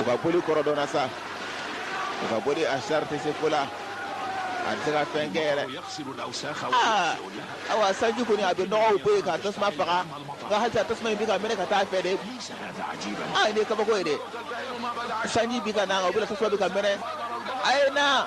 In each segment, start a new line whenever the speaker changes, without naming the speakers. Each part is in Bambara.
U ka boli kɔrɔ dɔnna sa u ka boli asar tɛ se ko la a tɛ se ka fɛn kɛ yɛrɛ awa
sanji kɔni a
bɛ nɔgɔw bɔ yen ka tasuma faga nka hali tasuma in bɛ ka mɛnɛ ka taa fɛ de
aa nin ye kabako ye dɛ sanji bi ka na o bɛɛ la tasuma
bɛ ka mɛnɛ a ye na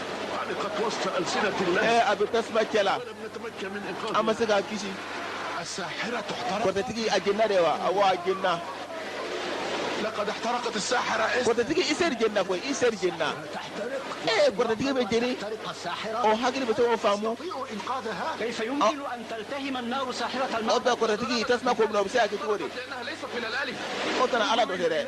a bɛ tasuma cɛ la an ma se k'a kisi kɔrɔtɛtigi a jenina de
wa awɔ a jenina
kɔrɔtɛtigi iseri jenina koyi
iseri jenina
ee kɔrɔtɛtigi
bɛ jeni
o hakili bɛ tɔgɔ
faamu o bɛ kɔrɔtɛtigi tasuma k'o
minɛ o bɛ se ka kɛ cogo
di o kana ala dɔ dɛ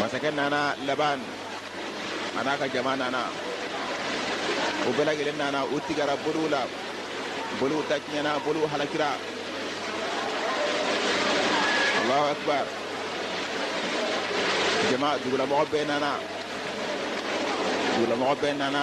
masakɛ nana laban a n'a ka jama nana u bɛɛ lajɛlen nana u tigɛra boliw la boliw ta tiɲɛna boliw halakira allahu akbar jama dugulamɔgɔ bɛɛ nana dugulamɔgɔ bɛɛ nana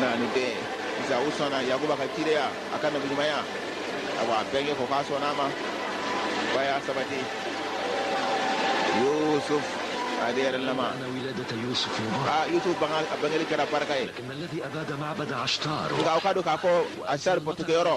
nani de sa u sɔnna yakuba ka cideya a ka nabiɲumanya awa a bɛnkɛ ko k'a sɔnna a ma ba y'a sabati yusuf ale yɛrɛ lama
aa
yusuf bangeli kɛra barika ye
nka aw k'a dɔn k'a fɔ
asar batokɛyɔrɔ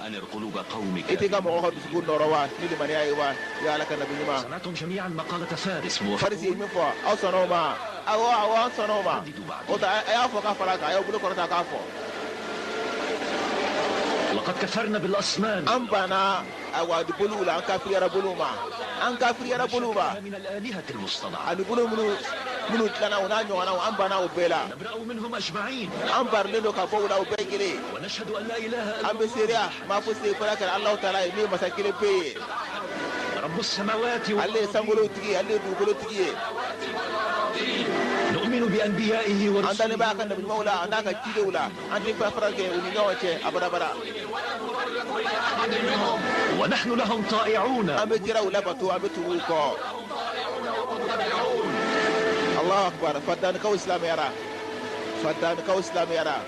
I tɛ ka mɔgɔ ka dusu nɔɔrɔ wa ni deya ye wa ala ka nabi
ɲuman farisi min
fɔ aw sɔnna o ma aw sɔnna o ma o a y'a fɔ ka fara kan a ye bolo kɔrɔta k'a fɔ
an
banna a wadu boliw la an kafirila boliw ma an kafirila boliw
ma ani boliw minnu
minnu dilanna u n'a ɲɔgɔn an banna u bɛɛ la
an don ka
bɔ la u bɛɛ g
an bɛ seereya maa
fosi tɛ fo a kɛra ala taala ye min masa kelen pe
ye ale ye sankolo
tigi ale dugukolo tigi ye
an dalen b'a ka
nabiɲumaw la
an'a
ka cidenw la an tɛ danfara kɛ u ni ɲɔgɔn cɛ abada
abada an bɛ kiraw
labato an bɛ tugu u kɔ ala akbar fadankaw silamɛyara fadankaw silamɛyara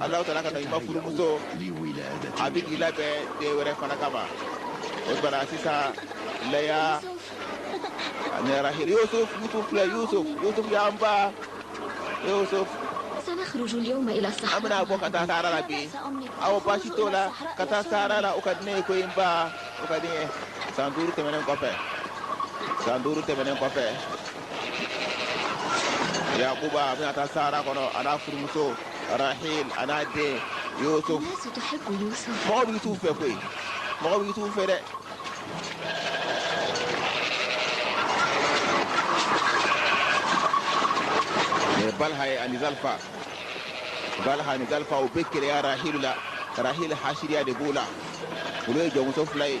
Ala taala ka nɛɛma furumuso a
bɛ k'i
labɛn den wɛrɛ fana kama o banna sisan laya ani rahil yusuf n ba yusuf
an bɛna bɔ ka taa sahara
la bi awɔ baasi t'o la ka taa sahara la o ka di ne ye koyi n ba o ka di san duuru tɛmɛnen kɔfɛ san duuru tɛmɛnen kɔfɛ yakuba a bɛna taa sahara kɔnɔ a n'a furumuso rahil a n'a den yusuf
mɔgɔ bɛ yusuf fɛ koyi
mɔgɔ bɛ yusuf fɛ dɛ balha ye ani zalfa balha ni zalfa u bɛ keleya rahilu la rahil hasiriya de b'u la olu ye jɔnmuso fila ye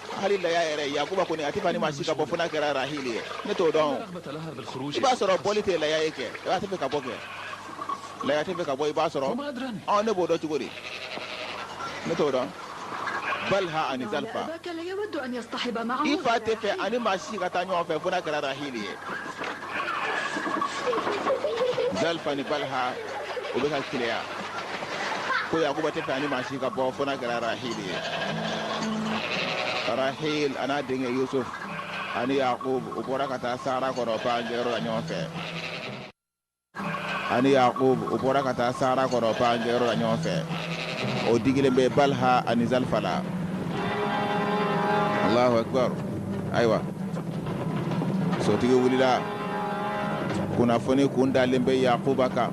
hali laya yɛrɛ yakuba kɔni a tɛ fɛ ani maa si ka bɔ fo n'a kɛra rahil ye ne t'o
dɔn i b'a sɔrɔ bɔli tɛ laya
ye kɛ i ba tɛ fɛ ka bɔ kɛ laya tɛ fɛ ka bɔ i b'a sɔrɔ ɔ ne b'o
dɔn cogo
di ne t'o dɔn balha ani
zalifa i fa tɛ fɛ ani
maa si ka taa ɲɔgɔn fɛ fo n'a kɛra rahil ye zalifa ni baliha u bɛ ka keleya ko yakuba tɛ fɛ ani maa si ka bɔ fo n'a kɛra rahil ye rahil a n'a denkɛ yusuf ani yakub u bɔra ka taa sahara kɔnɔ panjɛyɔrɔ la ɲɔgɔn fɛ ani yakub u bɔra ka taa sahara kɔnɔ panjɛyɔrɔ la ɲɔgɔn fɛ o digilen bɛ baliha ani zalifa la allahu akbar ayiwa sotigi wulila kunnafoni kun dalen bɛ yakuba kan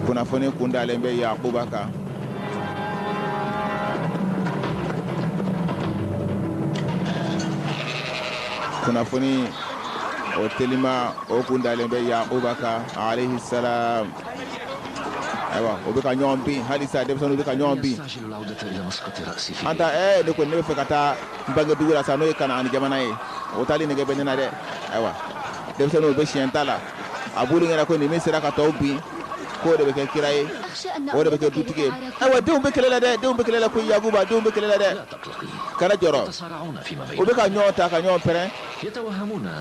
kunnafoni kun dalen bɛ yakuba kan kunnafoni o telima o kun dalen bɛ yakuba kan alayhi salam ayiwa u bɛ ka ɲɔgɔn bin halisa denmisɛnninw bɛ ka ɲɔgɔn bin an taa ɛɛ ne kɔni ne bɛ fɛ ka taa n bangedugu la sa n'o ye Kanaani jamana ye o taali nege bɛ ne na dɛ ayiwa denmisɛnninw bɛ siɲɛ ta la a b'olu ɲɛna ko ni min sera ka tɔw bin k'o de bɛ kɛ kira ye o de bɛ kɛ dutigi ye ayiwa denw bɛ kɛlɛ la dɛ denw bɛ kɛlɛ la ko Yakuba denw bɛ kɛlɛ la dɛ kana jɔrɔ u bɛ ka ɲɔgɔn ta ka ɲɔgɔn pɛrɛn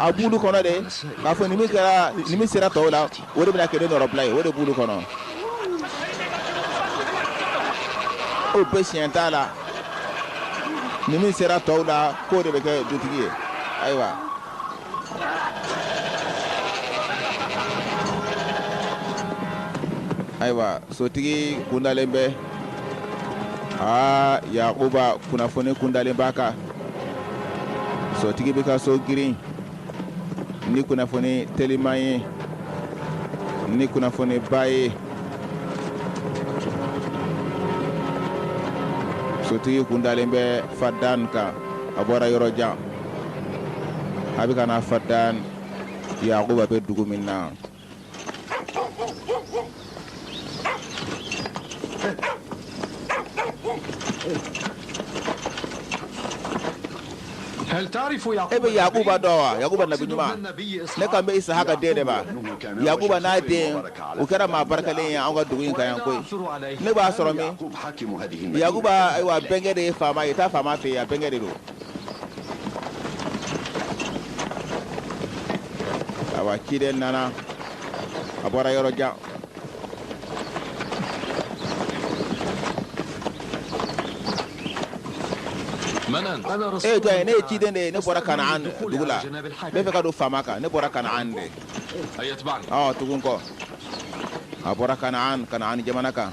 a b'olu kɔnɔ de k'a fɔ ni min kɛra ni min sera tɔw la O de bɛna kɛ ne nɔrɔbila ye o de b'olu kɔnɔ u bɛ siɲɛ ta la ni min sera tɔw la k'o de bɛ kɛ dutigi ye ayiwa ayiwa sotigi kundalen bɛ aa yakuba kunnafoni kundalen b'a kan sotigi bɛ ka so girin ni kunnafoni telima ye ni kunnafoniba ye sotigi kun dalen bɛ fadan kan a bɔra yɔrɔ jan a bɛ ka na fadan yakuba bɛ dugu min na
e bɛ yakuba dɔn
wa yakuba nabi ɲuman ne kan bɛ isahaka den de ma yakuba n'a den o kɛra maa barikalen ye an ka dugu in kan yan koyi ne b'a sɔrɔ min yakuba ayiwa bɛnkɛ de ye faama ye taa faama fɛ yen a bɛnkɛ de don awa ciden nana a bɔra yɔrɔ jan e jɔn ye ne ye ciden de ye ne bɔra kanaan dugu la n bɛ fɛ ka don faama kan ne bɔra kanaan de
ɔ tugu n kɔ
a bɔra kanaan kanaan jamana kan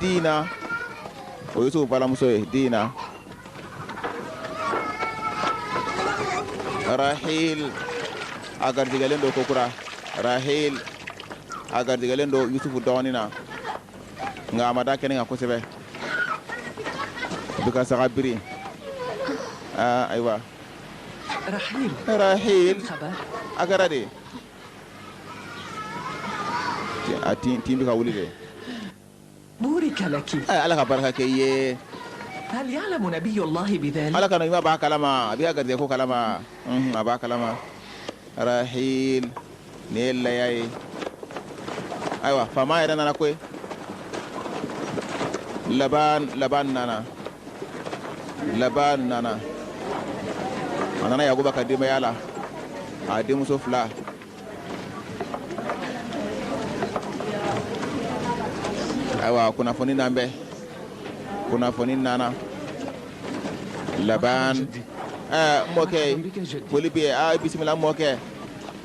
diina o ye yusufu balimamuso ye diina rahil a garijɛgɛlen don kokura rahil a garijɛgɛlen don yusufu dɔgɔnin na nka a ma da kɛnɛ kan kosɛbɛ a bɛ ka saga biri ayiwa rahil a kɛra di a tin tin bɛ ka wuli
dɛ burika laki ala ka barika
k'i ye hal ya'lamu
nabiyullahi bidhalik ala ka nabi ɲuman b'a kalama
a bɛ garijɛ ko kalama a b'a kalama rahil ni laya ayiwa faama yɛrɛ nana koyi laban laban nana laban nana a nana yakuba ka denbaya la a denmuso fila ayiwa kunnafoni nalen bɛ kunnafoni nana laban ɛɛ mɔkɛ foli b'i ye aa bisimila mɔkɛ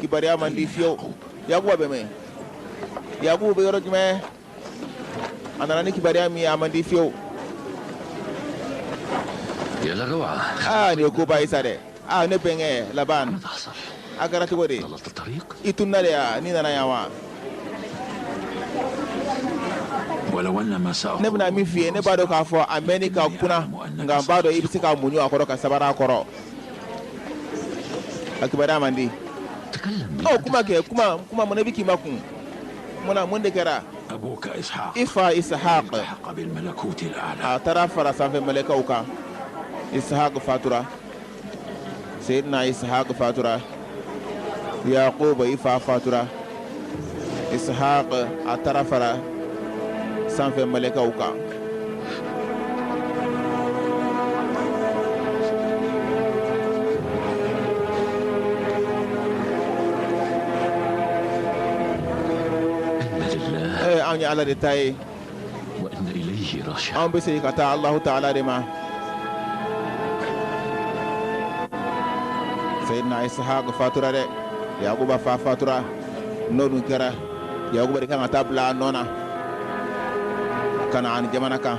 kibaruya man di fiyew yakuba bɛ min yakuba bɛ yɔrɔ jumɛn a nana ni kibaruya min ye a man di fiyew
aa nin ye koba ye sa
dɛ aa ne bɛnkɛ laban
a kɛra cogo
di i
tunna de
ya n'i nana yan
wa ne bɛna min f'i ye
ne
b'a dɔn
k'a fɔ a mɛnni ka kunan nka n b'a dɔn i bɛ se ka muɲu a kɔrɔ ka sabari a kɔrɔ a kibaruya man di
ɔ kuma kɛ kuma
kuma mun e bɛ k'i makun mun na mun de kɛra
i fa isahaq a taara fara
sanfɛ mɛlɛkɛw kan isahaq fatura seyidina isahaq fatura yakuba i fa fatura ishaq a taara fara sanfɛ mɛlɛkɛw kan
an ye ala de ta ye
an bɛ
segin ka taa Alahu
taala de ma Seyidina Isihaka fatura dɛ Yakuba fa fatura n'o dun kɛra Yakuba de kan ka taa bila a nɔ na Kanaan jamana kan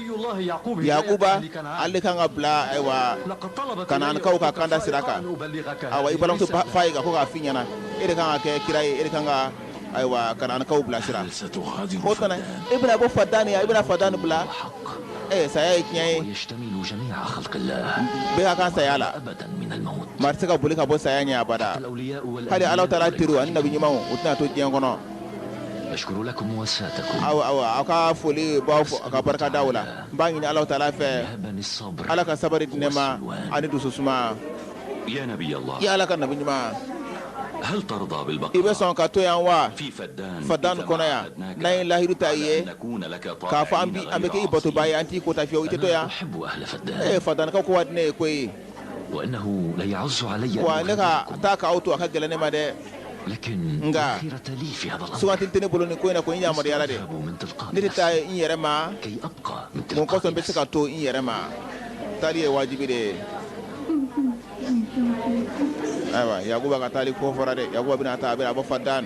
yakuba
ale kan ka bila ayiwa
kanaankaw ka kanda
sira kan i balimamuso fa ye ka ko k'a f'i ɲɛna e de kan ka kɛ kira ye e de kan ka ayiwa kanaankaw bila sira
e
bɛna bɔ fadani
i
bɛna fadani bila ɛ
saya ye tiɲɛ ye bɛɛ ka kan saya
la
maa tɛ se ka boli ka bɔ
saya ɲɛ abada hali ala
taala
teriw ani nabi ɲumanw
u tɛna
to diɲɛ kɔnɔ
Aw
ka foli b'aw fo ka barika da o la n b'a ɲini ala taala fɛ ala ka
sabari di ne ma
ani dususuma
i ala ka nabi ɲuman i bɛ sɔn
ka to
yan
wa fadan
kɔnɔ
yan n'an ye lahidu ta i ye k'a
fɔ an bɛ
k'i batoba ye an t'i kota fiyewu i tɛ to yan
fadankaw ko ka di ne ye
koyi
wa ne ka
taa
k'aw
to a ka
gɛlɛn ne
ma dɛ
nka suganti tɛ ne bolo nin ko in na ko n
yamaruyala de ne tɛ taa
n yɛrɛ ma mun kɔsɔn n bɛ se ka
to n yɛrɛ ma taali ye wajibi de ye ayiwa yakuba ka taali ko fɔra dɛ yakuba bɛna taa a bɛna bɔ fadan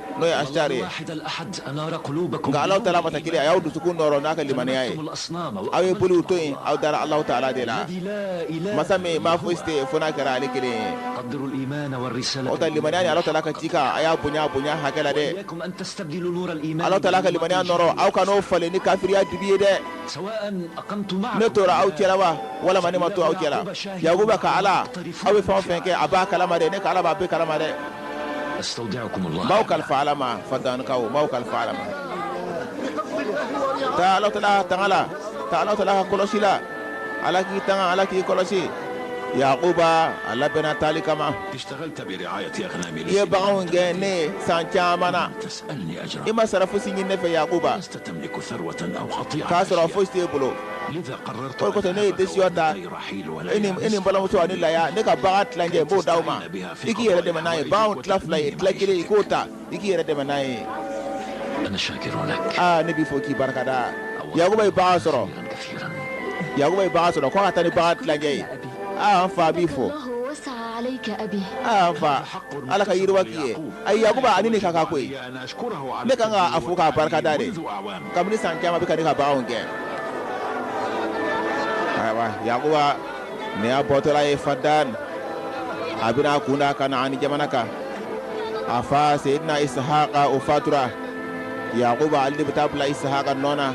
n'o ye asitari
ye nka Alahu taala masa kelen
a y'aw dusukun nɔɔrɔ n'a ka limaniya ye aw ye boliw to yen aw dara Alahu taala de la masa min maa fosi tɛ yen fo n'a kɛra ale kelen ye
aw ta limaniya
ani Alahu
taala ka
cikan a y'a bonya a bonya hakɛ la
dɛ Alahu taala ka limaniya
nɔɔrɔ aw kan'o falen ni kafiriya dibi ye
dɛ ne tora aw cɛla wa
walama ne ma to aw cɛla Yakuba ka Ala aw bɛ fɛn o fɛn kɛ a b'a kalama dɛ ne ka Ala b'a bɛɛ kalama dɛ.
b'aw kalifa ala ma
fadankaw b'aw kalifa ala ma taa ala taala ka tanga la taa ala taala ka kɔlɔsi la ala k'i tanga ala k'i kɔlɔsi yakuba a labɛnna taali kama
i ye baganw gɛn
ne ye san caman na
i ma sara fosi ɲini ne
fɛ
yakuba k'a sɔrɔ fosi t'e bolo o kosɔn ne ye desizɔn ta
i ni balimamuso ani laya ne ka bagan tilancɛ n b'o d'aw ma i k'i yɛrɛ dɛmɛ n'a ye baw tila fila ye tila kelen i k'o ta i k'i yɛrɛ dɛmɛ n'a
ye aa ne b'i fo k'i barikada
yakuba ye bagan sɔrɔ
yakuba ye bagan
sɔrɔ ko n ka taa ni bagan tilancɛ ye aa n fa n b'i fo
aa n
fa ala ka yiriwa k'i ye a yakuba a ni nin ka kan koyi
ne kan ka a fo k'a barikada
de kabini
san caman a bɛ ka ne
ka baganw gɛn ayiwa yakuba Nin y'a bɔtɔla ye fadan a bɛna a kun da kanaani jamana kan a fa seyidina isahaka o fatura yakuba ale de bɛ taa bila isahaka nɔ na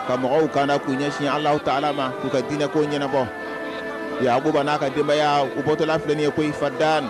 ka mɔgɔw kanda k'u ɲɛsin ala taala ma k'u ka diinɛ ko ɲɛnabɔ yakuba n'a ka denbaya u bɔtɔla filɛ nin ye koyi fadan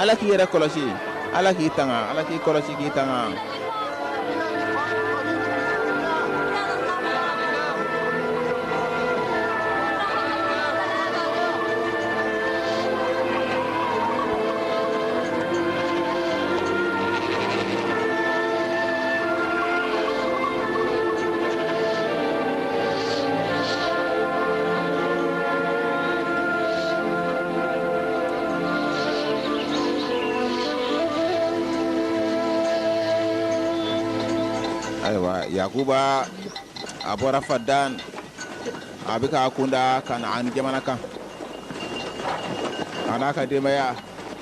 ala k'i yɛrɛ kɔlɔsi ala k'i tanga ala k'i kɔlɔsi k'i tanga ayiwa yakuba a bɔra fadan a bɛ k'a kunda kanaan jamana kan a n'a ka denbaya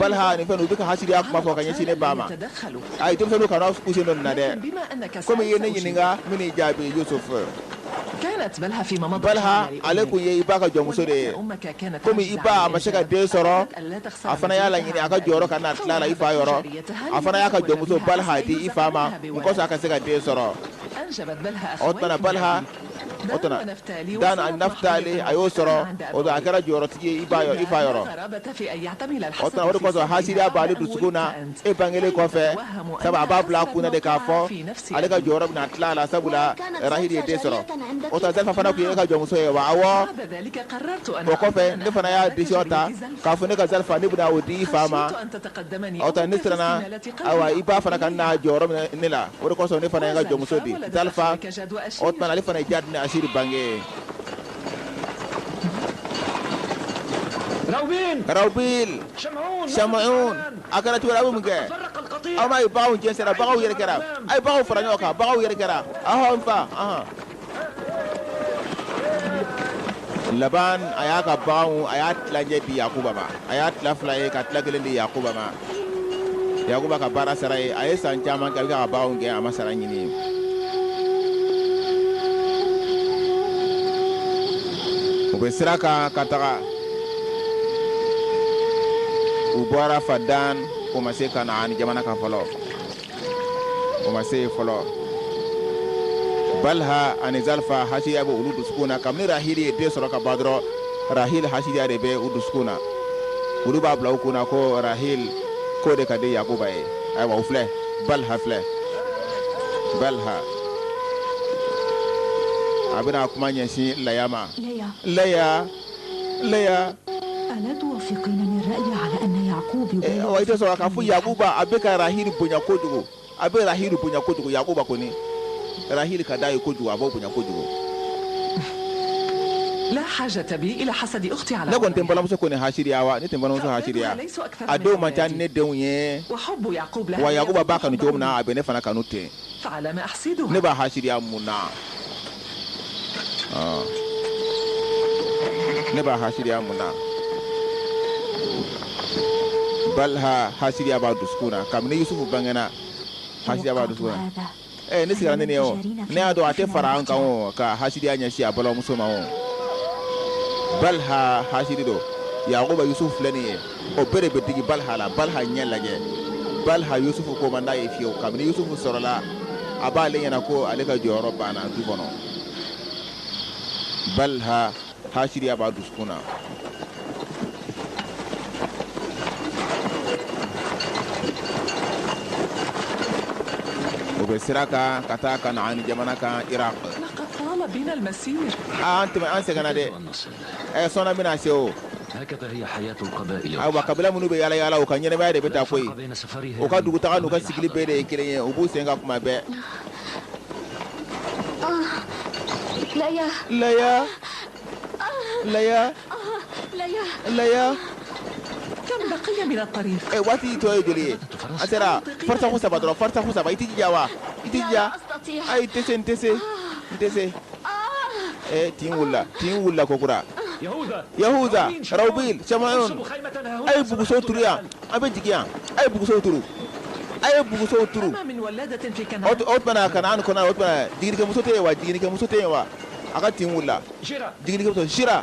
balha ni fɛn u bɛ ka hasidiya kuma fɔ ka ɲɛsin ne ba ma ayi denmisɛnninw kana k'u sen don nin na dɛ komi i ye ne ɲininka n bɛ n'i jaabi yusuf
balha ale kun ye
i ba ka jɔnmuso de ye komi i ba a ma se ka den sɔrɔ a fana y'a laɲini a ka jɔyɔrɔ kana tila a la i fa yɔrɔ a fana y'a ka jɔnmuso balha di i fa ma kɔsa a ka se ka den sɔrɔ o tuma na balha o tuma na dan ani nafitali a y'u sɔrɔ o tuma na a kɛra jɔyɔrɔtigi ye i fa yɔrɔ o tuma na o de kosɔn hasidiya b'ale dusukun na e bangekelen kɔfɛ sabu a b'a bila a kun na de k'a fɔ ale ka jɔyɔrɔ bɛna tila a la sabula rahili ye den sɔrɔ o tuma zalifa fana tun ye e ka jɔnmuso ye wa awɔ o kɔfɛ ne fana y'a desizɔn ta k'a fɔ ne ka zalifa ne bɛna o di i fa ma o tuma ne siranna ayiwa i ba fana kana jɔyɔrɔ minɛ ne la o de kosɔn ne fana ye n ka jɔnmuso di zalifa O tuma ale fana jad ni asiri bange rawbil samuun a kɛra cogoya bɛ mun kɛ aw m'a ye baganw jɛnsɛra baganw yɛrɛkɛra a ye baganw fara ɲɔgɔn kan baganw yɛrɛkɛra aa n fa aa laban a y'a ka baw a y'a tilancɛ di yakuba ma a y'a tila fila ye ka tila kelen di yakuba yakuba ka baara sara ye a ye san caman kɛ a bɛ ka baganw gɛn a ma sara ɲini u bɛ sira kan ka taga u bɔra fadan ko ma se kanaani jamana kan fɔlɔ o ma se yen fɔlɔ balha ani zalifa hasidiya bɛ olu dusukun na kabini rahili ye den sɔrɔ ka ban dɔrɔn rahil hasidiya de bɛ u dusukun na olu b'a bila u kun na ko rahil ko de ka di yakuba ye ayiwa u filɛ balha filɛ balha a bɛna kuma ɲɛsin laya ma laya laya
wa i tɛ sɔn k'a fɔ
yakuba a bɛ ka rahili bonya kojugu a bɛ rahili bonya kojugu yakuba kɔni rahili ka d'a ye kojugu a b'o bonya kojugu
ne kɔni tɛ n balimamuso kɔni
hasiriya wa ne tɛ n balimamuso hasiriya a denw man ca ni ne denw ye wa
yakuba b'a kanu cogo
min na
a bɛ
ne fana kanu ten
ne b'a hasiriya mun
na ne b'a hasidiya mun na balha hasidiya b'a dusukun na kabini yusufu bangena hasidiya b'a dusukun na eh ne sigara ne ne o ne y'a dɔn a tɛ fara an kan o ka hasidiya ɲɛsin a balimamuso ma o balha hasidi don yakuba yusufu filɛ nin ye o bɛɛ de bɛ digi balha la balha ɲɛ lajɛ balha yusufu ko man d'a ye fiyewu kabini yusufu sɔrɔla a b'ale ɲɛna ko ale ka jɔyɔrɔ banna du kɔnɔ balha hasiriya b'a dusukun na o bɛ sira kan ka taa kanaani jamana kan iraq
aa an tɛmɛ an
sɛgɛnna dɛ ɛ sɔɔni an bɛna se
o ayiwa kabila minnu bɛ
yaala yaala u ka ɲɛnamaya de bɛ tan koyi u ka
dugutaga n'u
ka
sigili
bɛɛ de ye kelen ye u b'u sen kan tuma bɛɛ
laya
laya
laya laya ɛ waati tɔ ye joli ye
a sera farisaku saba dɔrɔn farisaku saba i tɛ jija wa i tɛ jija ayi n tɛ se n tɛ se n tɛ se ee tin wulila tin wulila kokura yahuza rawbil samayun a ye bugusow turu yan an bɛ jigin yan a ye bugusow turu a ye bugusow
turu o t- o tuma kanaan
kɔnɔ o tuma jiginikɛmuso tɛ yen wa jiginikɛmuso tɛ yen wa a ka tin wulila jiginikɛmuso sira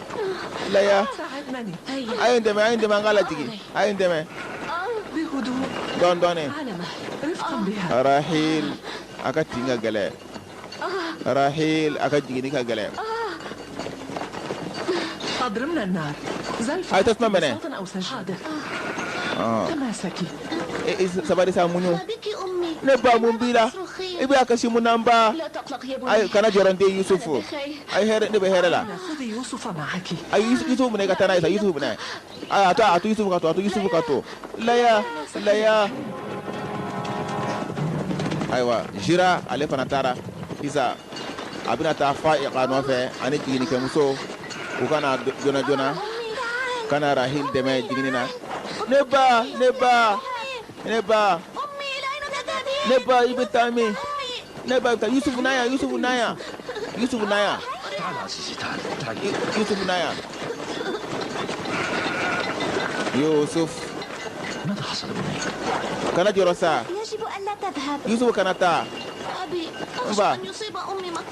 laya a ye n dɛmɛ
a ye n dɛmɛ an k'a lajigin a ye n
dɛmɛ dɔɔni dɔɔni rahil
a ka tin ka gɛlɛ rahil a ka jiginni ka gɛlɛ
a ye
tasuma mɛnɛ sabari sa muɲu ne
ba mun b'i la
i bɛ a kasi mun na n ba ayi
kana jɔrɔ n den yusufu
ayi hɛrɛ ne bɛ hɛrɛ la
Yusufu minɛ
ka taa a ye yusufu minɛ a to a to yusufu ka to a to yusufu ka to ayiwa jira ale fana taara sisan a bɛna taa fa'iqa nɔfɛ ani jiginikɛmuso u ka na joona joona ka na rahil dɛmɛ jigini na ne ba ne ba
ne ba ne ba i bɛ
taa min ne ba ka yusuf naya yusuf naya yusuf naya
yusuf naya
yusuf
kana jɔrɔ
sa
yusuf kana taa n ba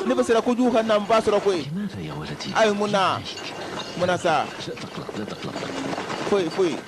ne bɛ sera kojugu ka
na n ba sɔrɔ koyi ayi
mun na
mun na sa
foyi foyi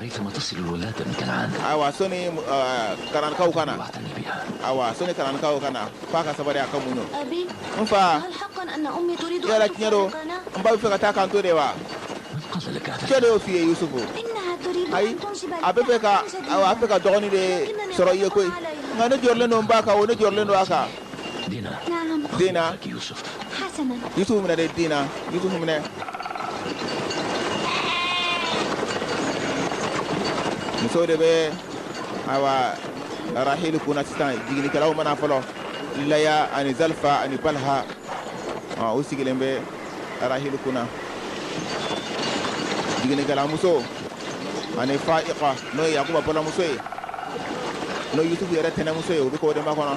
ayiwa
sɔni kanaankaw ka na
ayiwa sɔni
kanaankaw ka na f'a ka sabari a ka muɲu n fa
yala tiɲɛ don n ba
bɛ fɛ ka
taa k'an to
de
wa jɔn de y'o f'i ye
yusufu
ayi a
bɛ fɛ ka ayiwa a bɛ fɛ ka dɔgɔnin de sɔrɔ i ye koyi nka ne jɔrɔlen don n ba kan o ne jɔrɔlen don a kan
Dina.
Naam. Dina. Ak
Yusuf. Hasana. Yusuf minɛ dɛ
Dina Yusuf minɛ. muso de bɛ awa rahil kunna sisan jiginikɛlaw ma na fɔlɔ laya ani zalifa ani balha ɔ u sigilen bɛ rahil kunna jiginikɛlamuso ani fa'iqa n'o ye yakuba balimamuso ye n'o yusufu yɛrɛ tɛnɛmuso ye u bɛ k'o de makɔnɔ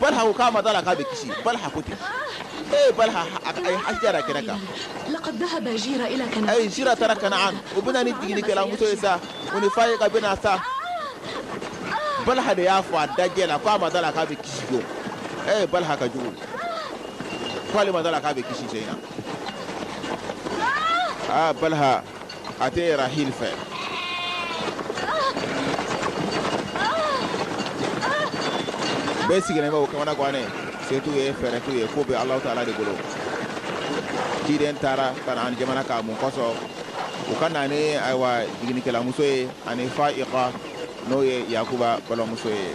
balha ko k'a ma d'a la k'a bɛ kisi balha ko ten ee balha a y'a jira kɛnɛ
kan ayi jira taara kanaan
o bɛ na ni jiginikɛlamuso ye sa o ni fa'iqa bɛ na sa balha de y'a fɔ a dajɛ la k'a ma d'a la k'a bɛ kisi don ee balha ka jugu k'ale ma d'a la k'a bɛ kisi sɛnɛ aa balha a tɛ rahil fɛ bɛɛ sigilen bɛ u kamana gannen se t'u ye fɛɛrɛ t'u ye ko bɛ alahu taala de bolo ciden taara kanaan jamana kan mun kosɔn u ka na ni ayiwa jiginikɛlamuso ye ani fa'iqa n'o ye yakuba balimamuso ye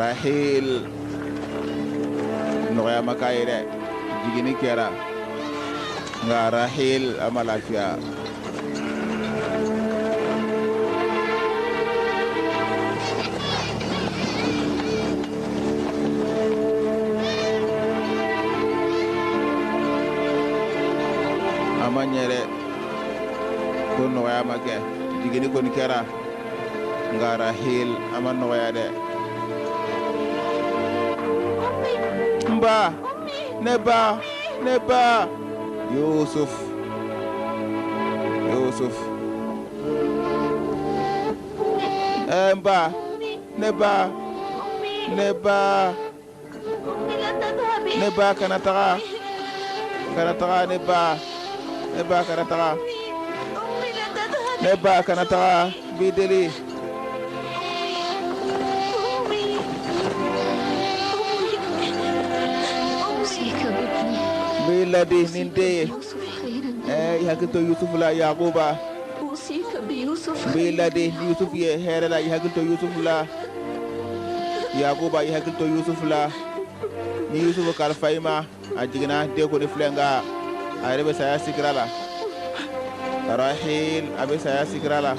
rahil nɔgɔya ma k'a ye dɛ jiginni kɛra nka rahil a ma lafiya a ma ɲɛ dɛ ko nɔgɔya ma kɛ jiginni kɔni kɛra nka rahil a ma nɔgɔya dɛ n ba ne ba ne ba yusuf yusuf ɛɛ n ba ne ba ne ba ne ba kana taga kana taga ne ba ne ba kana taga ne ba kana taga n b'i deli n b'i ladi ni n den ye eh i hakili to yusufu la yakuba
n b'i ladi ni yusufu
ye hɛrɛ la i hakili to yusufu la yakuba i hakili to yusufu la n ye yusufu kalifa i ma a jiginna den kɔni filɛ nka a yɛrɛ bɛ saya sakara la rahil a bɛ saya sakara
la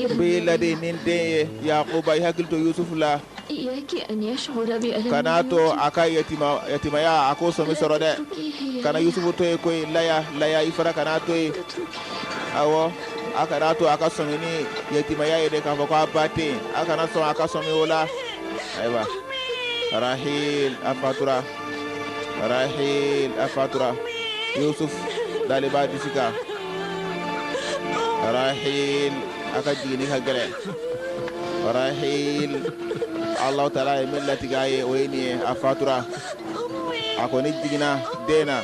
n b'i ladi ni n den
ye yakuba i hakili to yusufu la
kana to a
ka yatimaya a ko sɔmi sɔrɔ dɛ kana yusufu to yen koyi laya laya i fana kan'a to yen awɔ a kana to a ka sɔmi ni yatimaya ye dɛ k'a fɔ ko a ba tɛ yen a kana sɔn a ka sɔmi o la ayiwa rahil a fatura rahil a fatura yusuf dalen b'a disi kan rahil a ka jiginni ka gɛlɛn Rahil Alahu taala ye min latigɛ a ye o ye nin ye a fatura a kɔni jiginna den na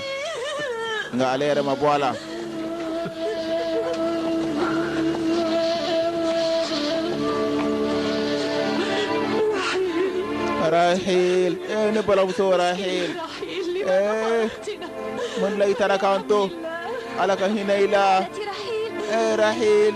nka ale yɛrɛ ma bɔ a la. Rahil ee ne balamuso Rahil ee mun de la i taara k'an to Ala ka hinɛ i la ee Rahil.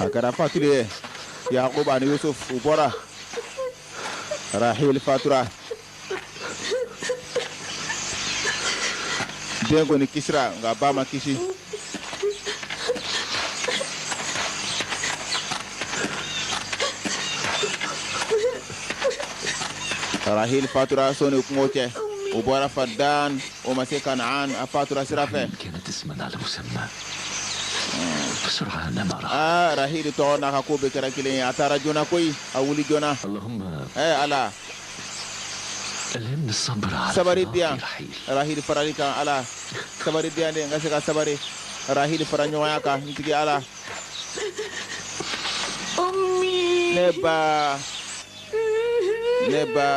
a kɛra fatuli ye yakubu ani yusuf u bɔra rahil fatura den kɔni kisira nka ba ma kisi rahil fatura so ni kungo cɛ u bɔra fadan o ma se kanaan a fatura sira
fɛ aa rahili tɔgɔ n'a
ka ko bɛɛ kɛra kelen ye a taara joona koyi a wuli joona ɛɛ
ala sabari di
yan rahili farali kan ala sabari di yan de n ka se ka sabari rahili fara ɲɔgɔnya kan n tigi ala n ba n ba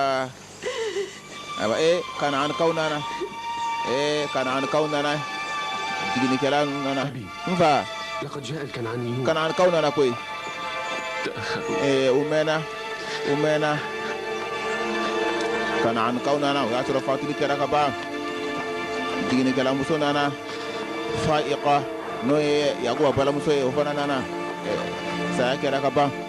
ayiwa ee kanaanikaw nana ee kanaanikaw nana jiginikɛla nana n fa
kanaanikaw nana koyi
ee
u mɛnna u
mɛnna kanaanikaw nana o y'a sɔrɔ fatuli kɛra ka ban jiginikɛlamuso nana faiqa n'o ye yakuba balamuso ye o fana nana saya kɛra ka ban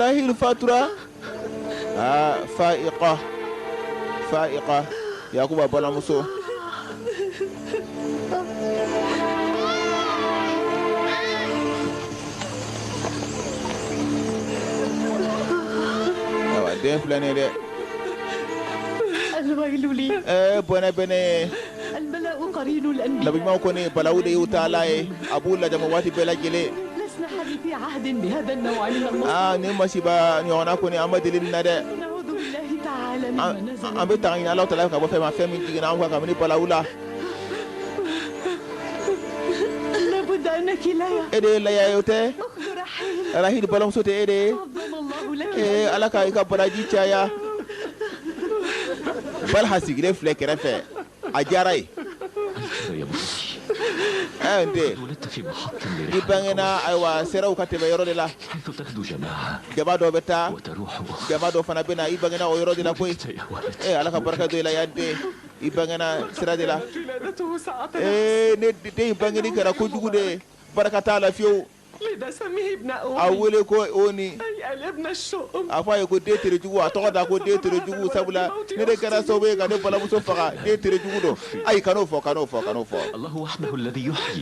rahil fatura aa faiqa faiqa yakuba balamuso awa den filɛ nin ye dɛ
Alwayilu li. ɛɛ bɔnɛ bɛ ne ye nabiɲumanw kɔni balawu
de y'u taala ye a b'u lajama waati bɛɛ
lajɛlen aa nin masiba
ɲɔgɔnna kɔni an ma deli nin na dɛ
an bɛ tanga ɲini Alahu taala fɛ
ka bɔ fɛn ma fɛn min jiginna an kan kabini balawu
la e de ye laya ye o
tɛ
Rahil balamuso tɛ
e de ye
ee Ala ka i ka baraji
caya balha sigilen filɛ kɛrɛfɛ a diyara
ye ɛɛ n
den
i bangena ayiwa
seraw ka tɛmɛ yɔrɔ de la
jama dɔ bɛ
taa
jama dɔ fana bɛ
na i bangena o yɔrɔ de la koyi ee ala
ka barika don i la yaa
n den i bangena sira de la
ee nin den
in bangeni kɛra kojugu de ye barika t'a la fiyewu
A wele ko
oni
a fɔ a ye ko den
terejugu a tɔgɔ da ko den terejugu sabula nin de kɛra sababu ye ka ne balamuso faga den terejugu don ayi kan'o fɔ kan'o fɔ kan'o fɔ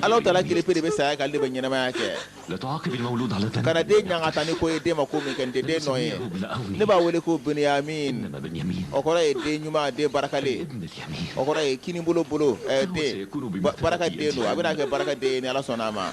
ala taala kelenpe de bɛ saya
kɛ ale de bɛ ɲɛnamaya
kɛ kana den ɲangata
ni ko ye den ma ko min kɛ dɛ den nɔ ye ne b'a
wele ko
binyamini o kɔrɔ
ye den ɲuman
den barikalen o kɔrɔ
ye kinibolo
bolo barikaden don a bɛna kɛ barikaden ni ala sɔnna a ma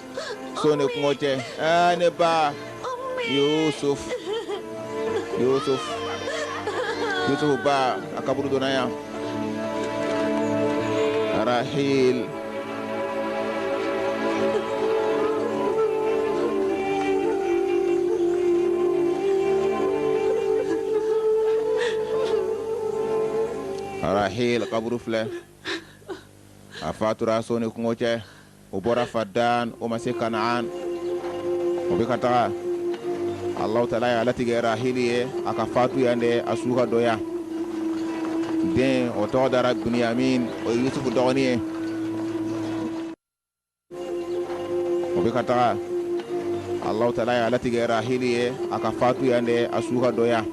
so ne kungo tɛ aa ne ba yusuf yusuf yusuf ba a kaburu donna yan rahil rahil kaburu filɛ a fatura so ne kungo tɛ o bɔra fadan o ma se kanaan o bɛ ka taga ala tala y'a latigɛ rahili ye a ka fatu yan de a su ka don yan den o tɔgɔ dara biniyamin o ye yusufu dɔgɔnin ye o bɛ ka taga ala tala y'a latigɛ rahili ye a ka fatu yan de a su ka don yan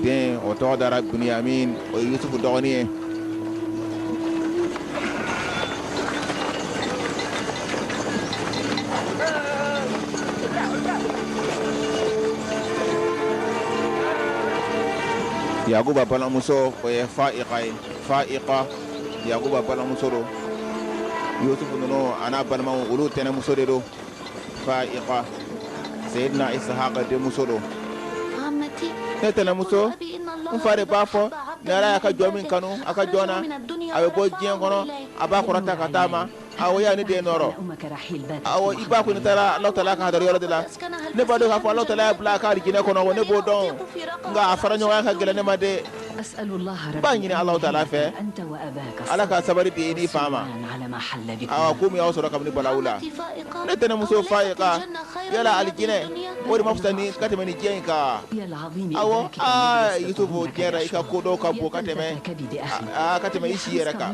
den o tɔgɔ dara biniyamin o ye yusufu dɔgɔnin ye Yakuba balimamuso o ye Fa'iqa ye Fa'iqa Yakuba balimamuso don Yusufu ninnu a n'a balimaw olu tɛnɛmuso de don fa'iqa sayyidina ishaqa denmuso don ne tɛnɛmuso n fa de b'a fɔ ni ala y'a ka jɔn min kanu a ka jɔn na a bɛ bɔ diɲɛ kɔnɔ a b'a kɔrɔta ka taa ma awɔ ya ne den nɔɔrɔ awɔ i ba kɔni taara ala tala ka hadara yɔrɔ de la ne b'a dɔn k'a fɔ ala tala y'a bila a ka alijinɛ kɔnɔ ne b'o dɔn nka a fara ɲɔgɔnya ka gɛlɛn ne ma dɛ B'a ɲini ala tala fɛ ala ka sabali di i n'i fa ma awa ko min y'aw sɔrɔ kabini balawu la ne tɛnɛmuso fa'iqa yala alijinɛ o de ma fisa ni ka tɛmɛ ni diɲɛ in kan awɔ yusufu i ka ko dɔw ka bon ka tɛmɛ ka tɛmɛ i si yɛrɛ kan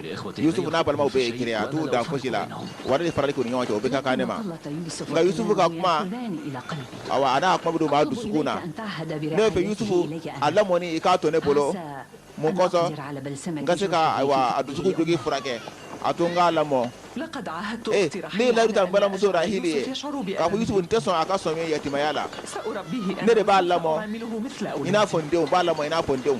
yusufu n'a balimaw bɛɛ ye kelen a t'u dan fosi la wala danfarali k'u ni ɲɔgɔn cɛ o bɛɛ ka kan ne ma nka yusufu ka kuma awa a n'a kuma bɛ don maa dusukun na ne b'a fɛ yusufu a lamɔni i k'a to ne bolo mun kosɔn n ka se ka ayiwa a dusukun jogi furakɛ a to n k'a lamɔ ee ne ye layidu ta n balimamuso rahili ye k'a fɔ yusufu n tɛ sɔn a ka sɔmi yatimaya la ne de b'a lamɔ i n'a fɔ n denw n b'a lamɔ i n'a fɔ n denw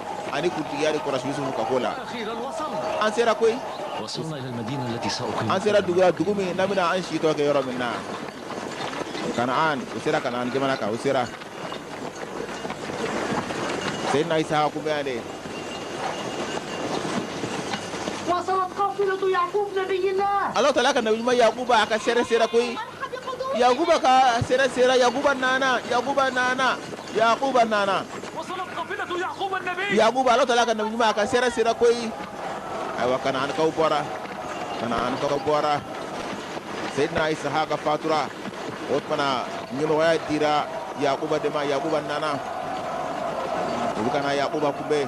ani kuntigiya de kɔrɔsi yusufu ka ko la an sera koyi an sera dugu dugu min na an bɛna an si tɔ kɛ yɔrɔ min na kanaan u sera kanaan jamana kan u sera sayyidina ishaqa kun bɛ yan de ala tala ka nabi ɲuman yakuba a ka sɛrɛ sera koyi yakuba ka sɛrɛ sera yakuba nana yakuba nana yakuba nana yakuba ala tala ka nabi ɲuman a ka sɛrɛ sera koyi ayiwa kanaankaw bɔra kanaankaw bɔra seydina isahaka fatura o tuma na ɲɛmɔgɔya dira yakuba de ma yakuba nana u bɛ ka na yakuba kunbɛn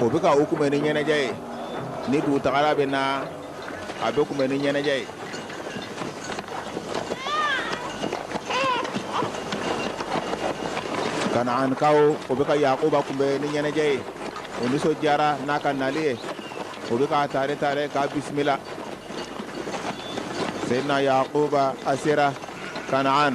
O bɛ ka o kunbɛn ni ɲɛnajɛ ye ni dugutagala bɛ na a bɛ kunbɛn ni ɲɛnajɛ ye kanaankaw o bɛ ka yakuba kunbɛn ni ɲɛnajɛ ye o nisɔndiyara n'a ka nali ye o bɛ k'a taare taare k'a bisimila seyidina yakuba a sera kanaan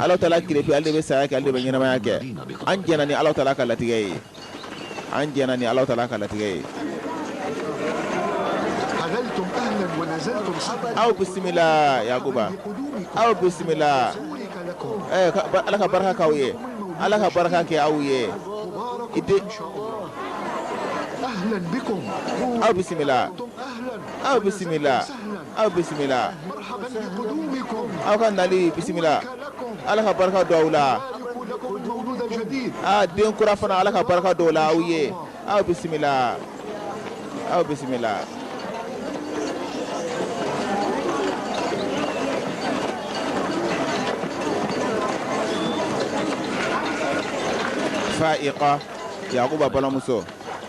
Ala tala ki ale bɛ saya kɛ ale bɛ ɲɛnamaya kɛ an jɛnna ni ala tala ka latigɛ ye an jɛnna ni ala tala ka latigɛ ye aw bisimila yakuba aw bisimila ala ka barika k'aw ye ala ka barika kɛ aw ye i
aw bisimila
aw bisimila aw
bisimila aw ka
nali bisimila ala ka barika don aw
la aa den kura fana
ala ka barika don o la aw ye aw bisimila aw bisimila fa'iqa yakuba balimamuso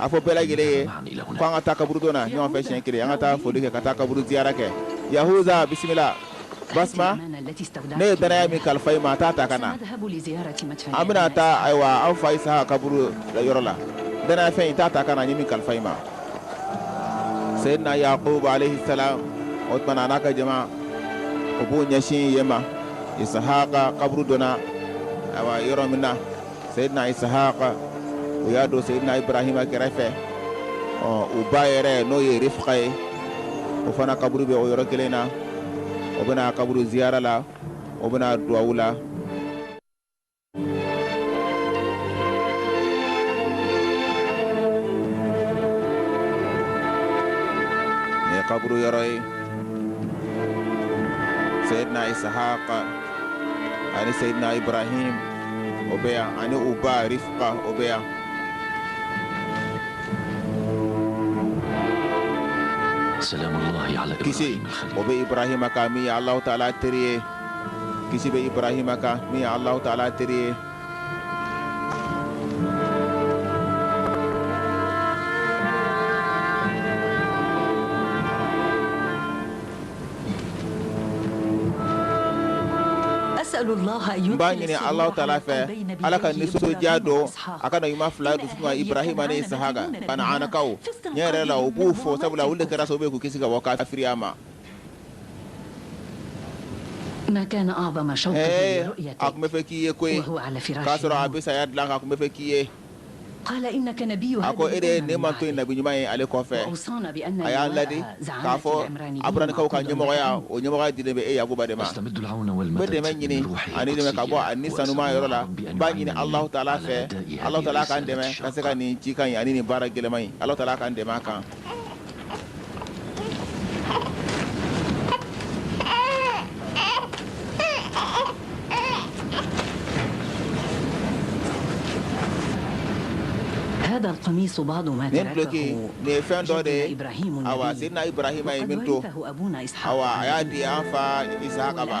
A fɔ bɛɛ lajɛlen
ye ko an ka taa kaburudon na ɲɔgɔn fɛ siyɛn kelen an ka taa foli kɛ ka taa kaburu ziyara kɛ yahusa bisimila basima ne ye dannaya min kalifa i ma t'a ta ka na an bɛna taa ayiwa an fa isahaka kaburu yɔrɔ la dannaya fɛn in t'a ta ka na n ye min kalifa i ma seyidina yakuba alayihi salamu o tuma na a n'a ka jama o b'o ɲɛsin yen ma isahaka kaburudon na ayiwa yɔrɔ min na seyidina isahaka u y'a don seyidina ibrahima kɛrɛfɛ ɔ u ba yɛrɛ n'o ye rifka ye o fana kaburu bɛ o yɔrɔ kelen na o bɛ na kaburu ziyara la o bɛ na duwawu la nin ye kaburu yɔrɔ ye seyidina isahaka ani seyidina ibrahim o bɛ yan ani u ba Rifka o bɛ yan
kisi o bɛ
Ibrahima kan min ye Alahu taala teri ye kisi bɛ Ibrahima kan min ye Alahu taala teri ye
N b'a ɲini alahu taala
fɛ ala ka nisɔndiya don a ka ɲuman fila dusu ibrahima ni isihaka kanaanakaw ne yɛrɛ la u b'u fo sabula u kɛra sababu k'u kisi ka bɔ kafiriya
ma a tun bɛ fɛ k'i ye k'o y'a sɔrɔ a bɛ saya dilan tun bɛ fɛ k'i ye a ko e de ye nin mantɔn in nabi ɲuman ye ale kɔfɛ a y'an ladi k'a fɔ aburanikaw ka ɲɛmɔgɔya o ɲɛmɔgɔya dilen bɛ e yakuba de ma
n bɛ dɛmɛ ɲini ani dɛmɛ ka bɔ a ni sanuma yɔrɔ la n
b'a ɲini alahu taala fɛ alahu taala ka n dɛmɛ ka se ka nin cikan in ani nin baara gɛlɛman in alahu taala ka n dɛmɛ a kan
nin duloki nin ye fɛn dɔ de ye awa sidina
ibrahima ye min to
awa a y'a di an fa isaka ma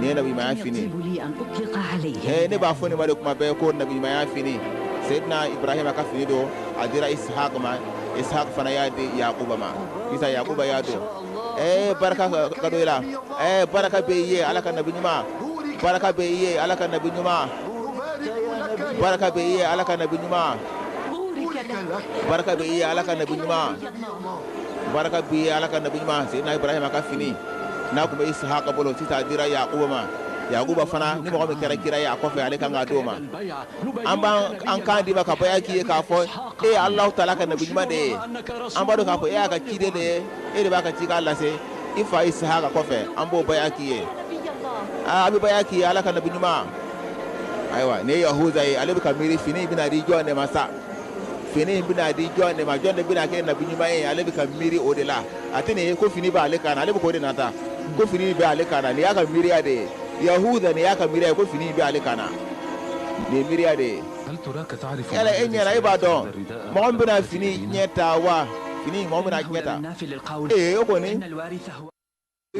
ne nabi ma ya fini eh ne ba fo ne ma de kuma be ko nabi ma ya fini
sayyidina ibrahim ka fini do adira ishaq ma ishaq fana ya de yaquba ma isa yaquba ya do eh baraka ka do ila eh baraka be ye ala ka nabi nyuma baraka be ye ala ka nabi nyuma baraka be ye ala ka nabi nyuma baraka be ye ala ka nabi nyuma baraka b'i ye ala ka nabi ɲuman sidina ibrahima ka fini n'a tun bɛ isihaka bolo sisan a dira yakuba ma yakuba fana ni mɔgɔ min kɛra kira ye a kɔfɛ ale kan ka d'o ma an b'an an kan d'i ma ka baya k'i ye k'a fɔ e ye alahu taala ka nabi ɲuman de ye an b'a dɔn k'a fɔ e y'a ka ciden de ye e de b'a ka cikan lase i fa isihaka kɔfɛ an b'o baya k'i ye an bɛ baya k'i ye ala ka nabi ɲuman ayiwa nin ye yahuza ye ale bɛ ka miiri fini in bɛna di jɔn de ma sa fini in bɛna di jɔn de ma jɔn de bɛna kɛ nabi ɲuman ye ale bɛ ka miiri o de la a tɛ nin ye ko fini b'ale kan na ale bɛ k'o de nata ko fini bɛ ale kan na nin y'a ka miiriya de ye yahuza nin y'a ka miiriya ye ko fini bɛ ale kan na nin ye miiriya de ye yala e ɲɛna e
b'a
dɔn mɔgɔ min bɛna fini
ɲɛ
ta wa fini mɔgɔ min bɛna ɲɛ ta ee o kɔni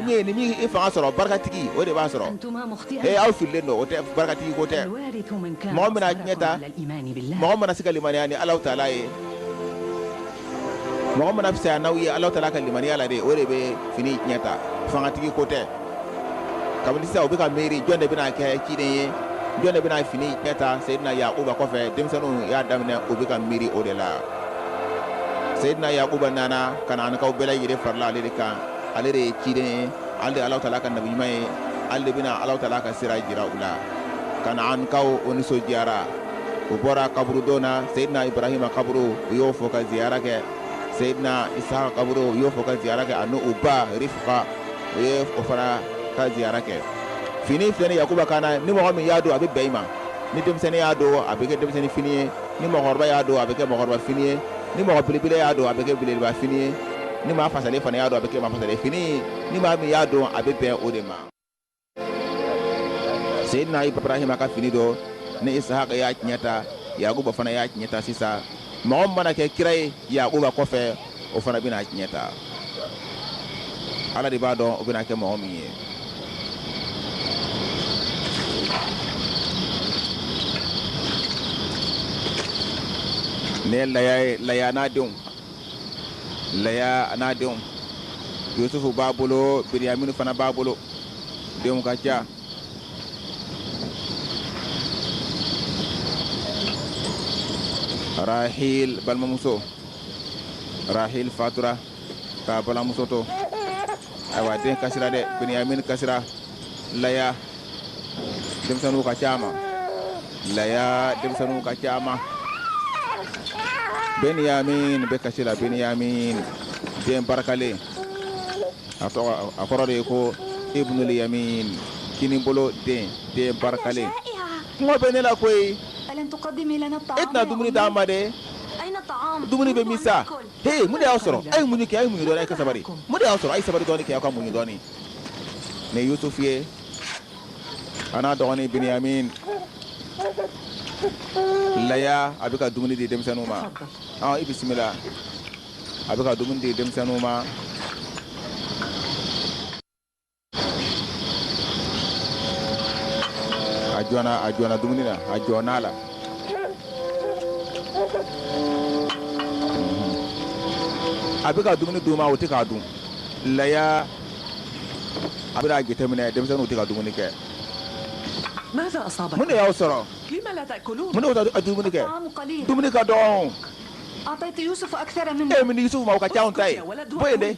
ye ni min ye fanga sɔrɔ barikatigi o de b'a sɔrɔ ee aw fililen don o tɛ barikatigi ko tɛ mɔgɔ bɛna ɲɛ ta mɔgɔ mana se ka limaniya ni alahu taala ye mɔgɔ mana fisaya n'aw ye alahu taala ka limaniya la de o de bɛ fini ɲɛ ta fangatigi ko tɛ kabini sisan u bɛ ka miiri jɔn de bɛna kɛ ciden ye jɔn de bɛna fini ɲɛ ta seyidina yakuba kɔfɛ denmisɛnninw y'a daminɛ u bɛ ka miiri o de la seyidina yakuba nana kanaankaw bɛɛ lajɛlen farila ale de kan ale de ye ciden ye ale de ala taala ka nabi ɲuman ye ale de bɛna ala taala ka sira jira u la ka na an kaw o nisɔndiyara u bɔra kaburudon na seyidina ibrahima kaburu u y'o fɔ ka ziyara kɛ seyidina isaka kaburu u y'o fɔ ka ziyara kɛ ani u ba rifka u ye o fana ka ziyara kɛ fini filɛ ni yakuba kan na ni mɔgɔ min y'a don a bɛ bɛn i ma ni denmisɛnnin y'a don a bɛ kɛ denmisɛnnin fini ye ni mɔgɔkɔrɔba y'a don a bɛ kɛ mɔgɔkɔrɔba fini ye ni mɔgɔ belebele y'a don a bɛ kɛ belebeleba fini ye ni maa fasalen fana y'a don a bɛ kɛ maa fasalen fini ye ni maa min y'a don a bɛ bɛn o de ma seyidina ibrahima ka fini don ni isahaka y'a tiɲɛ ta yakuba fana y'a tiɲɛ ta sisan mɔgɔ min mana kɛ kira ye yakuba kɔfɛ o fana bɛna tiɲɛ ta ala de b'a dɔn o bɛna kɛ mɔgɔ min ye ne laya ye laya n'a denw laya n'a denw yusufu b'a bolo biniyamini fana b'a bolo denw ka ca rahil balimamuso rahil fatura k'a balimamuso to ayiwa den kasira dɛ benyamin kasira laya denmisɛnninw ka ca a ma laya denmisɛnninw ka ca a ma benyamin bɛ kasi la benyamin den barikalen a kɔrɔ de ye ko ibnul yamin kinibolo den den barikalen kɔngɔ bɛ ne la koyi e tɛna dumuni d'an ma dɛ dumuni bɛ min sa he mun de y'aw sɔrɔ a ye muɲu kɛ a ye muɲu dɔɔni a ye ka sabari mun de y'aw sɔrɔ a ye sabari dɔɔni kɛ aw ka muɲu dɔɔni ne yusufu ye a n'a dɔgɔnin biniyamin laya a bɛ ka dumuni di denmisɛnninw ma ɔ i bisimila a bɛ ka dumuni di denmisɛnninw ma a jɔna a jɔna dumuni na a jɔna la a bɛ ka dumuni d'u ma o tɛ k'a dun laya a bɛna a jateminɛ denmisɛnninw tɛ ka dumuni kɛ mun de y'aw sɔrɔ a ye dumuni kɛ dumuni ka dɔgɔ e min Yusufu ma o ka ca anw ta ye bɔ yen dɛ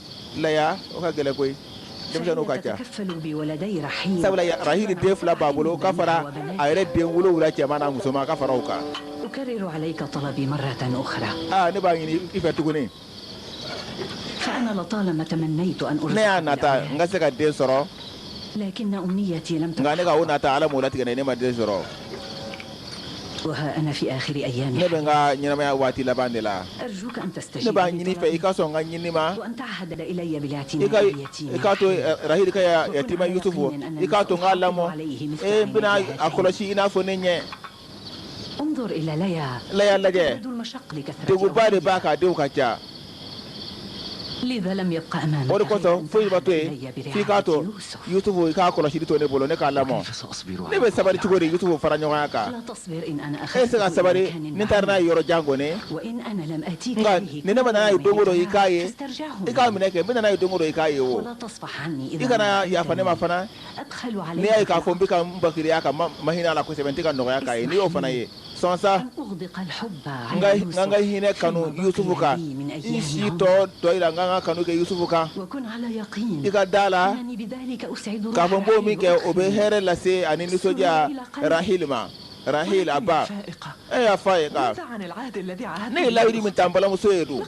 laya o ka gɛlɛn koyi denmisɛnninw ka ca sabula rahili den fila b'a bolo ka fara a yɛrɛ den wolonwula cɛman n'a musoman ka fara o kan ne b'a ɲini i fɛ tuguni ne y'a nata n ka se ka den sɔrɔ nka ne ka o nata ala m'o latigɛ ne ma den sɔrɔ ne bɛ n ka ɲɛnamaya waati laban de la ne b'a ɲini i fɛ i ka sɔn n ka ɲini ma i k'a to rahil ka yatima yusufu i k'a to n k'a lamɔ n bɛna a kɔlɔsi i n'a fɔ ne ɲɛ leya lajɛ degunba de b'a kan denw ka ca o de kosɔn foyi ma to yen f'i k'a to yusufu i k'a kɔlɔsili to ne bolo ne k'a lamɔ ne bɛ sabali cogo di yusufu fara ɲɔgɔnya kan e se ka sabali ni n taara n'a ye yɔrɔ jan kɔni nka ni ne ma na n'a ye don o don i k'a ye i k'a minɛ kɛ n bɛ na n'a ye don o don i k'a ye o i kana yafa ne ma fana n'i y'a ye k'a fɔ n bɛ ka n bakiriya ka ma hinɛ a la kosɛbɛ n tɛ ka nɔgɔya k'a ye n'i y'o fana ye sɔn sa n ka n ka hinɛ kanu yusufu kan n si tɔ dɔɔnin na n ka n ka kanu kɛ yusufu kan i ka da la k'a fɔ n b'o min kɛ o bɛ hɛrɛ lase ani nisɔndiya rahil ma rahil a ba e ya fayiga ne ye layidu min ta n balimamuso ye dun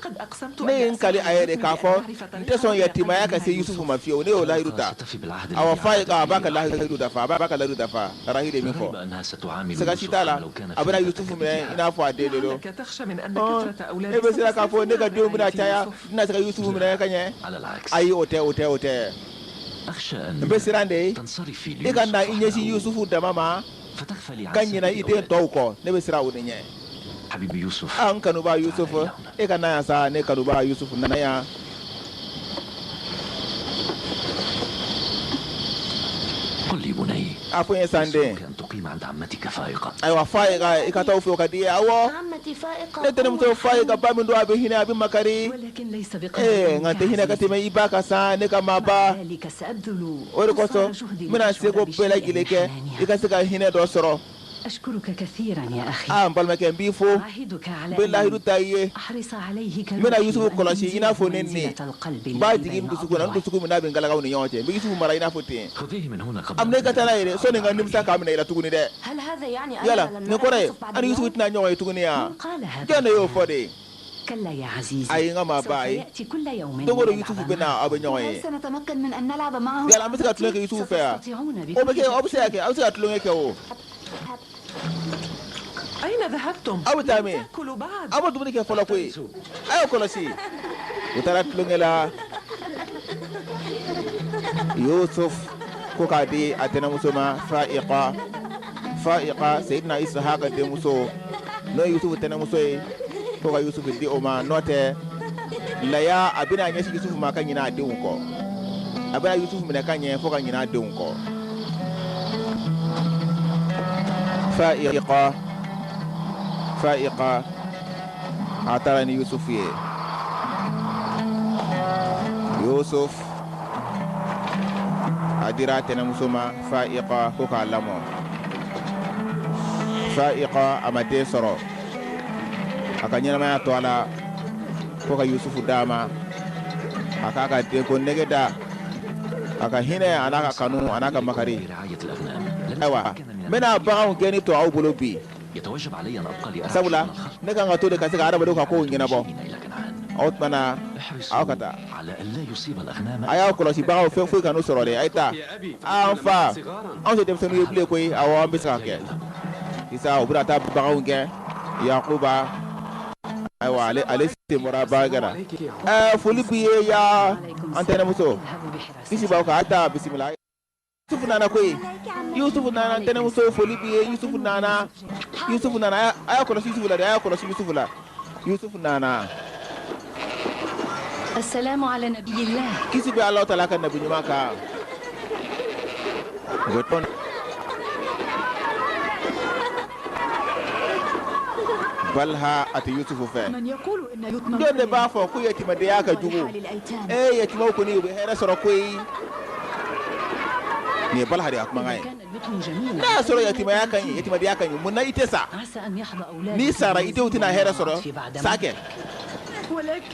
ne ye n kali a ye de k'a fɔ n tɛ sɔn yatimaya ka se yusufu ma fiyewu ne y'o layidu ta awɔ fayiga a b'a ka layidu dafa a b'a ka layidu dafa rahil ye min fɔ siga si t'a la a bɛna yusufu minɛ i n'a fɔ a den de don e bɛ siran k'a fɔ ne ka denw bɛna caya n tɛna se ka yusufu minɛ ka ɲɛ ayi o tɛ o tɛ o tɛ n bɛ siran de e kana i ɲɛsin yusufu dama ma ka ɲinɛ i den tɔw kɔ ne bɛ siran o de ɲɛ habibi
yusufu an kanuba yusufu
e ka na yan sa ne kanuba yusufu nana
yan a fɔ n ye sa n den ayiwa fayiga
i ka taa o fɛ o ka di awɔ
ne tɛnɛnmuso fayiga
ba min don a bɛ hinɛ a bɛ
makari nka tɛ hinɛ ka tɛmɛ i
ba kan sa ne ka maaba
o de kosɔn
n bɛna se ko bɛɛ lajɛlen kɛ i ka se ka hinɛ dɔ sɔrɔ
Aa n balimakɛ n b'i
fo n
bɛ layidu ta i ye n bɛna Yusufu kɔlɔsi
i n'a fɔ ne ni n b'a jigin
n dusukun na n
dusukun min bɛ n galakaw ni ɲɔgɔn cɛ n bɛ Yusufu mara i n'a fɔ ten a
minɛ i ka taa n'a ye dɛ sani n
ka nimisa k'a minɛ i la tuguni dɛ yala
nin kɔrɔ ye
an
ni Yusufu tɛna
ɲɔgɔn
ye
tuguni wa jɔn de y'o fɔ
de ayi n ka maaba ayi
don
o don Yusufu bɛ na
aw bɛ
ɲɔgɔn
ye yala an bɛ se ka tulonkɛ kɛ Yusufu
fɛ wa o bɛ kɛ aw
bɛ se ka kɛ
aw bɛ se ka
tulonkɛ
kɛ o
aw bɛ taa
min aw
ma dumuni kɛ fɔlɔ
koyi a y'o kɔlɔsi u taara tulonkɛ la Yusufu ko k'a di a tɛnɛmuso ma Fayiga fayika seyidina isihaka denmuso n'o ye yusufu tɛnɛnmuso ye fo ka yusufu di o ma n'o tɛ laya a bɛna a ɲɛsin yusufu ma ka ɲina a denw kɔ a bɛna yusufu minɛ ka ɲɛ fo ka ɲina a denw kɔ fa fayika a taara ni yusufu ye yusuf a dira a tɛnɛmuso ma fayika ko k'a lamɔ fayika a ma den sɔrɔ a ka ɲɛnamaya to a la ko ka yusufu d'a ma a k'a ka denko nege da a ka hinɛ an'a ka kanu an'a ka makari
ayiwa n bɛna
baganw
gɛnni to
aw bolo bi
sabula ne ka kan
ka to de ka se adama dɔ ka ko ɲɛnabɔ
aw
aw ka
taa a y'a kɔlɔsi bagan fɛn
foyi kana u sɔrɔ dɛ a ye taa an fa anw tɛ denmisɛnnin ye bilen koyi awɔ an bɛ se k'a kɛ sisan u bɔra ka taa bagan gɛn yakuba ayiwa ale bɔra bakɛla foli b'i ye ya an tɛnɛnmuso kisi
b'aw kan a taa bisimila
yusufu nana koyi yusufu nana an tɛnɛmuso foli b'i ye yusufu nana yusufu nana a y'a kɔlɔsi yusufu la dɛ a y'a kɔlɔsi yusufu la yusufu nana asalamu
ala nabiyillah kisi bɛ ala taala ka
nabi ɲuman kan balha a tɛ yusufu fɛ
jɔn de b'a fɔ ko
yatimadenya ka jugu ee
yatimaw kɔni u bɛ
hɛrɛ sɔrɔ koyi nin ye balaha de ka kumakan ye
n'a y'a sɔrɔ yatimadenya
ka ɲi mun na i tɛ
sa n'i sara i denw tɛna
hɛrɛ sɔrɔ sa kɛ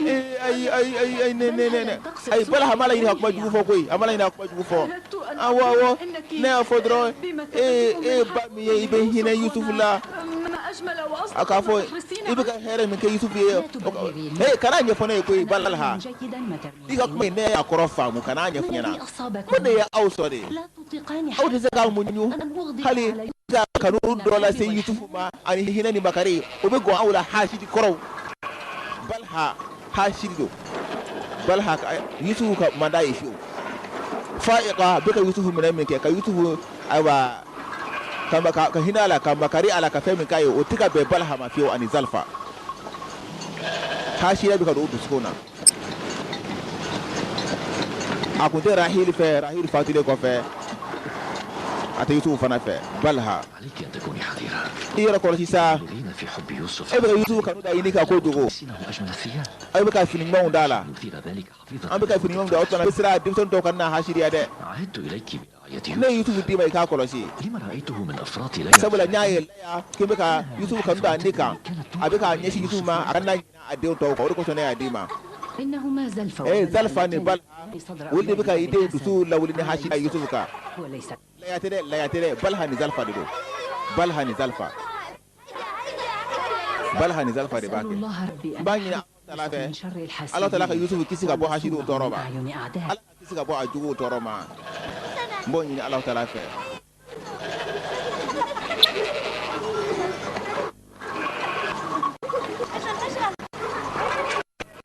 eh,
ayi ne ayi balaha m'a laɲini ka kuma jugu fɔ koyi a m'a laɲini ka kuma jugu fɔ awɔ awɔ ne
y'a fɔ
dɔrɔn e ye
ba min ye i
bɛ hinɛ yusufu
la a k'a fɔ i bɛ
ka
hɛrɛ min kɛ yusufu
ye ee kana ɲɛfɔ ne ye koyi balaha I
ka kuma ne y'a
kɔrɔ faamu kana ɲɛfɔ n ɲɛ na ko de
ye aw sɔrɔ
de aw
tɛ se k'aw
muɲu hali ka kanu
dɔ
lase yusufu ma ani hinɛ ni makari o bɛ gan aw la hasidi kɔrɔw balaha hasidiw balaha yusufu ka man d'a ye fiyewu fayika bɛ ka yusufu minɛ min kɛ ka yusufu ayiwa ka hinɛ a la ka makari a la ka fɛn min k'a ye o tɛ ka bɛn balaha ma fiyewu ani zilifa hasidiya bɛ ka don dusukun na a tun tɛ rahili fɛ rahili fatulen kɔfɛ a tɛ yusufu fana fɛ balaha
i yɛrɛ kɔlɔsi sa e bɛ ka yusufu kanu da
ɲini kojugu
aw bɛ ka fini
ɲumanw d'a la
an bɛ ka fini ɲumanw da o tɛna
sira denmisɛnnin tɔw ka na hasidiya dɛ
n ye yusufu d'i ma i
k'a
kɔlɔsi sabula n y'a
ye k'i bɛ ka yusufu kanu da ne kan a bɛ k'a ɲɛsin yusufu ma a kana ɲinɛ a denw tɔw kɔ o de kosɔn ne y'a d'i ma
ee zalifa ni
baliha olu de bɛ ka i denw dusu lawuli ni hasidiya yusufu kan laya
tɛ dɛ
laya tɛ dɛ baliha ni zalifa de don baliha ni zalifa baliha ni zalifa de b'a kɛ n b'a ɲini Ala fɛ Alahu taala ka Yusufu kisi ka bɔ hasidiw tɔɔrɔ ma Ala k'a kisi ka bɔ a juguw tɔɔrɔ ma n b'o ɲini Alahu taala fɛ